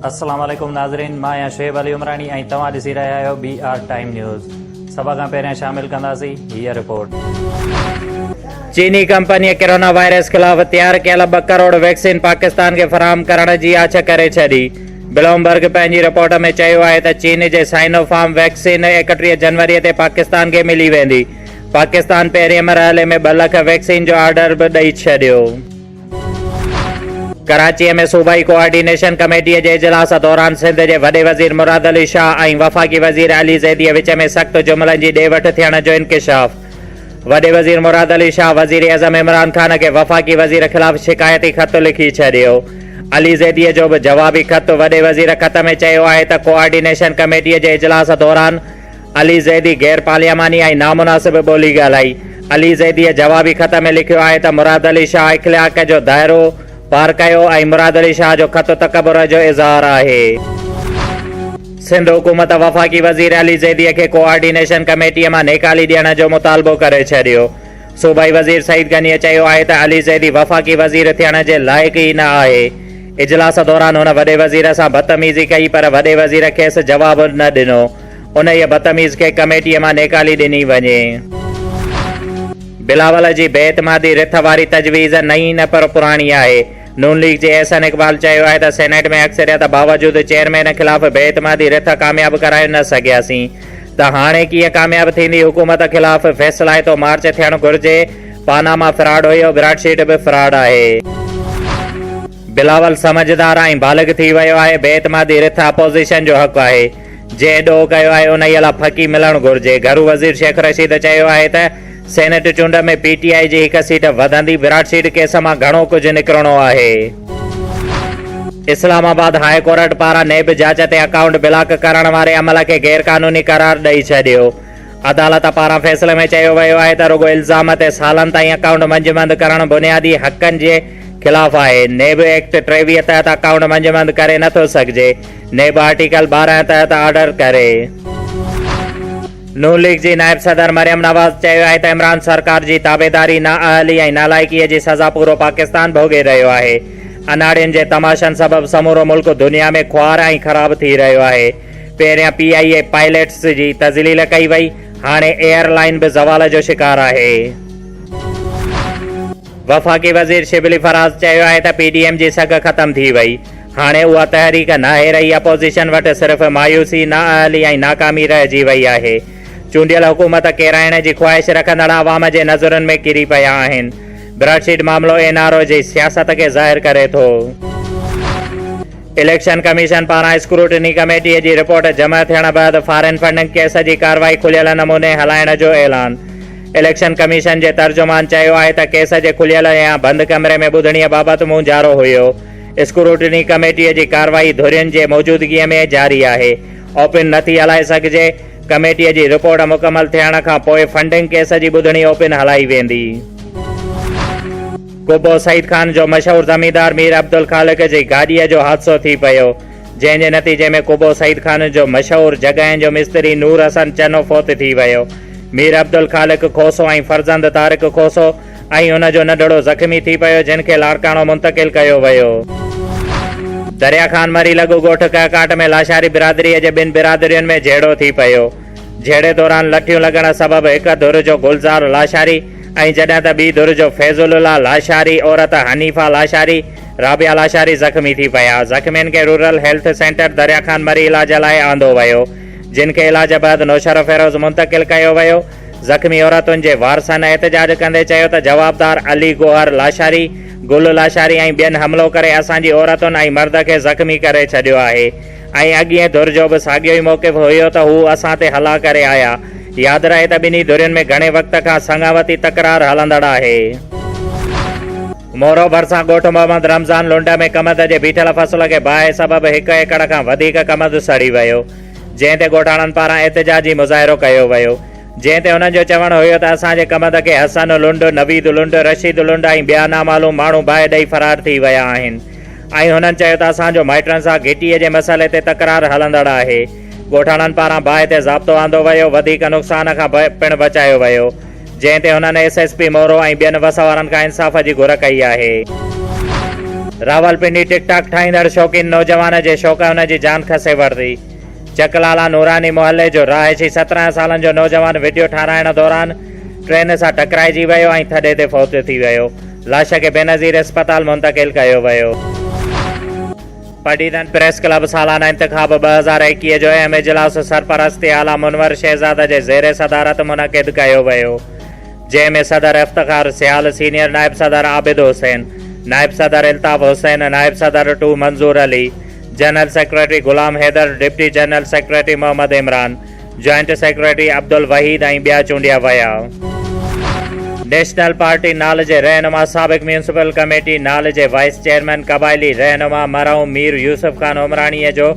السلام عليڪم ناظرين مان آهيان شعيب علي عمراڻي ۽ توهان ڏسي رهيا آهيو بي آر ٽائيم نيوز سڀ کان پهريان شامل ڪنداسين هي رپورٽ چيني ڪمپني ڪرونا وائرس خلاف تيار ڪيل ٻه ڪروڙ ويڪسين پاڪستان کي فراهم ڪرڻ جي آڇ ڪري ڇڏي بلومبرگ پنهنجي رپورٽ ۾ چيو آهي ته چين جي سائنو فارم ويڪسين ايڪٽيهه جنوري تي پاڪستان کي ملي ويندي، پاڪستان پهرين مرحلي ۾ ٻه لک ويڪسين جو آرڊر به ڏئي ڇڏيو. ڪراچي ۾ صوبائي ڪوآرڊينيشن ڪميٽي جي اجلاس دوران سنڌ جي وڏي وزير مراد علي شاهه ۽ وفاقي وزير علي زيدي وچ ۾ سخت جملن جي ڏي وٺ ٿيڻ جو انڪشاف. وڏي وزير مراد علي شاهه وزيراعظم عمران خان کي وفاقي وزير خلاف شڪايتي خط لکي ڇڏيو. علي زيديء جو به جوابي خط وڏي وزير خط ۾ چيو آهي ته ڪوآرڊينيشن ڪميٽيء جي اجلاس دوران علي زيدي غيرپارلياماني ۽ نامناسب ٻولي ڳالهائي. علي زيديء جوابي خط ۾ لکيو آهي ته مراد علي شاهه اخلاق جو دائرو پار ڪيو ۽ مراد علي شاهه جو خط تڪبر جو اظهار آهي. سنڌ حڪومت وفاقي وزير علي زيديء کي ڪوآرڊينيشن ڪميٽيء مان نيڪالي ڏيڻ جو مطالبو ڪري ڇڏيو. صوبائي وزير سعيد غنيء چيو آهي ته علي زيدي وفاقي وزير ٿيڻ جي لائق ئي نه آهي. اجلاس دوران هن وڏي وزير سان بدتميزي ڪئي پر وڏي وزير کيس جواب نه ڏنو. انهيء بدتميز کي ڪميٽيء مان نيڪالي ڏني وڃي. بلاول جي بي اعتمادي رٿ واري تجويز نئين نه پر پراڻي آهي. نون ليگ جي احسن اقبال چيو آهي ته سينيٽ ۾ اڪثريت باوجود چيئرمين خلاف بي اعتمادي رٿ ڪامياب ڪرائي نه سگهياسين ته هاڻي ڪيئن ڪامياب ٿيندي حڪومت خلاف فيصلائتو مارچ ٿيڻ گهرجي پاناما فراڊ هيو براڊ شيٽ به فراڊ آهي. بلاول سمجهدار ۽ بالغ ٿي ويو آهي بي اعتمادي رٿ اپوزيشن جو حق آهي. جي ڏوهه ڪيو آهي انهيء لاء ڦڪي ملڻ گهرجي. گهرو وزير شيخ رشيد چيو آهي ته سينيٽ چونڊ ۾ پي ٽي آء جي هڪ سيٽ وڌندي، وراٽ سيٽ ڪيس مان گهڻو ڪجهه نڪرڻو آهي. اسلام آباد هاء ڪورٽ پاران نيب جاچ تي اڪائونٽ بلاڪ ڪرڻ واري عمل کي غير قانوني قرار ڏئي ڇڏيو. عدالت پاران فيصلي ۾ چيو ويو آهي ته رڳو الزام تي سالن تائين اڪائونٽ منجمد ڪرڻ بنيادي حقن جي خلاف آهي. نيب ايڪٽ ٽيويهه تحت اڪائونٽ منجمد ڪري نٿو سگهجي. نيب آرٽيڪل ٻارهن تحت آرڊر ڪري. نون ليگ جي نائب صدر مريم نواز چيو آهي ته عمران سرڪار جي تابعداري، نااهلي ۽ نالائقي جي سزا پورو پاڪستان ڀوڳي رهيو آهي. اناڙين جي تماشن سبب سمورو ملڪ دنيا ۾ خوار ۽ خراب ٿي رهيو آهي. پهريان پي آء اي پائليٽس جي تذليل ڪئي وئي، هاڻي ايئر لائين به زوال جو شڪار آهي. وفاقي وزير شبلي فراز چيو آهي ته پي ڊي ايم جي سگهه ختم ٿي وئي، هاڻي اها تحريڪ ناهي رهي، اپوزيشن وٽ صرف مايوسي، نااهلي ۽ ناڪامي رهجي وئي آهي. چونڊيل حڪومت ڪيرائڻ جي خواهش رکندڙ عوام جي نظرن ۾ ڪري پيا آهن. براڊشيٽ معاملو اين آر او جي سياست کي ظاهر ڪري ٿو. اليڪشن ڪميشن پاران اسڪروٽني ڪميٽي جي رپورٽ جمع ٿيڻ بعد فارن فنڊنگ ڪيس جي ڪارروائي کليل نموني هلائڻ جو اعلان. اليڪشن ڪميشن جي ترجمان چيو آهي ته ڪيس جي کليل يا بند ڪمري ۾ ٻڌڻي بابت مونجهارو هيو. اسڪروٽني ڪميٽيء جي ڪارروائي ڌرين جي موجودگيء ۾ جاري آهي. اوپن نه ٿي هلائي سگهجي. ڪميٽيء جي رپورٽ مڪمل ٿيڻ کان پوء فنڊنگ ڪيس جي ٻڌڻي اوپن هلائي ويندي. قبو سعيد خان جو مشهور زميندار مير عبدالخالق جي گاڏيء جو حادثو ٿي پيو، جنهن جي نتيجي ۾ قبو سعيد خان جو مشهور جڳهين جو مستري نور حسن چنو فوت ٿي ويو. مير عبدالخالق کوسو ۽ فرزند طارق کوسو ۽ ان جو ننڍڙو زخمي ٿي پيو، جنھن کي لاڙڪاڻو منتقل ڪيو ويو. دريا خان مري لڳ ڳوٺ ڪهڪاٽ ۾ لاشاري برادريء جي ٻن برادرين ۾ جهيڙو ٿي پيو. جهيڙي دوران لٺيون لڳڻ سبب هڪ ڌر جو گلزار لاشاري ۽ جڏهن ته ٻي ڌر جو فيض الله لاشاري، عورت حنيفه لاشاري، رابعه لاشاري زخمي ٿي پيا. زخمين کي rural health centre Darya Khan Marri علاج لاء آندو ويو، جن کي علاج بعد نوشهروفيروز منتقل ڪيو ويو. زخمي عورتن جي وارثن احتجاج ڪندي چيو ته جوابدار علي گوهر لاشاري، گل لاشاري ۽ ٻين حملو ڪري اسان جي عورتن ۽ مرد کي زخمي ڪري ڇڏيو آهي ۽ اڳينء ڌر جو به ساڳيو ئي موقف هيو ته هو اسان تي حلا ڪري آيا. ياد رهي ته ٻنهي ڌرين ۾ گهڻي وقت کان سڱاوتي تڪرار هلندڙ آهي. مورو ڀرسان ڳوٺ محمد رمضان لنڊ ۾ ڪمند جي بيٺل فصل کي باهه سبب هڪ ايڪڙ کان وڌيڪ ڪمند سڙي ويو. جنهن تي ڳوٺاڻن پاران احتجاجي مظاهرو ڪيو ويو، جنهن تي هنن جو چوڻ هيو ته اسان جي ڪمند کي حسن لنڊ، نويد لنڊ، رشيد لنڊ ۽ ٻيا نامعلوم ماڻهو باهه ڏئي فرار ٿي ويا آهن ۽ هنن چيو ته اسان جو مائٽن سان گهٽيء جي مسئلي تي تڪرار هلندڙ آهي، ڳوٺاڻن پاران باهه تي ضابطو آندو ويو، وڌيڪ نقصان کان پڻ بچايو ويو. جنهن تي هنن ايس ايس پي مورو ۽ ٻين وس وارن کان انصاف جي گهر ڪئي آهي. راولپنڊي ٽڪ ٽاڪ ٺاهيندڙ شوقين نوجوان جي شوق هن جي جان کسي ورتي. چڪ لالا نوراني محلي جو رهائشي سترهن سالن جو نوجوان وڊيو ٺاهرائڻ دوران ٽرين سان ٽڪرائجي ويو ۽ ٿڏي تي فوت ٿي ويو. لاش کي بينظير اسپتال منتقل ڪيو ويو. پڊيدن پريس ڪلب سالانه انتخاب ٻه هزار ايڪيهه جو اهم اجلاس سرپرستي اعليٰ منور شهزاده جي زير صدارت منعقد ڪيو ويو، جنهن ۾ صدر افتخار سيال، سينيئر نائب صدر عابد حسين، نائب صدر الطاف حسين، نائب صدر two Manzoor Ali, general secretary Ghulam Haider, deputy general secretary Muhammad Imran, joint secretary Abdulwaheed ۽ ٻيا چونڊيا ويا. نيشنل پارٽي نال جي رهنما سابق ميونسپل ڪميٽي نال جي وائيس چيئرمين قبائلي رهنما مرحوم مير يوسف خان عمراڻيء جو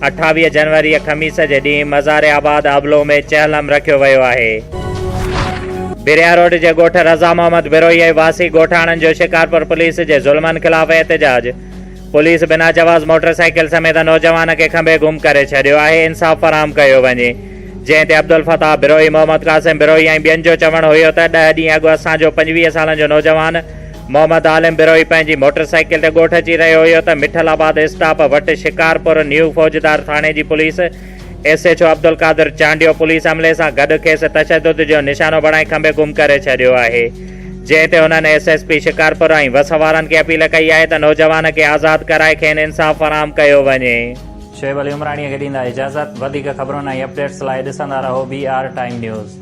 اٺاويهه جنوريء خميس جي ڏينهن مزار آباد ابلو ۾ چهلم رکيو ويو آهي. بريا روڊ جي ڳوٺ رضا محمد بروهيي واسي ڳوٺاڻن جو شڪارپور پوليس جي ظلمن خلاف احتجاج. پوليس بنا جواز موٽر سائيڪل سميت نوجوان کي کنڀي گم ڪري ڇڏيو آهي انصاف فراهم ڪيو وڃي جنهن تي عبدالفتاح بروهي محمد قاسم بروهي ۽ ٻين جو چوڻ هيو ته ڏهه ڏينهن اڳ اسان جو پنجويهه سالن جو نوجوان محمد عالم بروهي پنهنجي موٽر سائيڪل تي ڳوٺ اچي رهيو هيو ته مٺل آباد اسٽاپ وٽ شڪارپور نيو فوجدار ٿاڻي جي police S H O Abdulqadir Chandio police عملي سان گڏ کيس تشدد جو نشانو بڻائي کنڀي گم ڪري ڇڏيو آهي جنهن تي هنن ايس ايس پي شڪارپور ۽ وس وارن کي اپيل ڪئي آهي ته نوجوان کي آزاد ڪرائي کين انصاف فراهم ڪيو وڃي. شعيب علي عمراڻيء کي ڏيندا اجازت. وڌيڪ خبرن ۽ اپڊيٽس لاء ڏسندا رهو بي آر ٽائيم نيوز.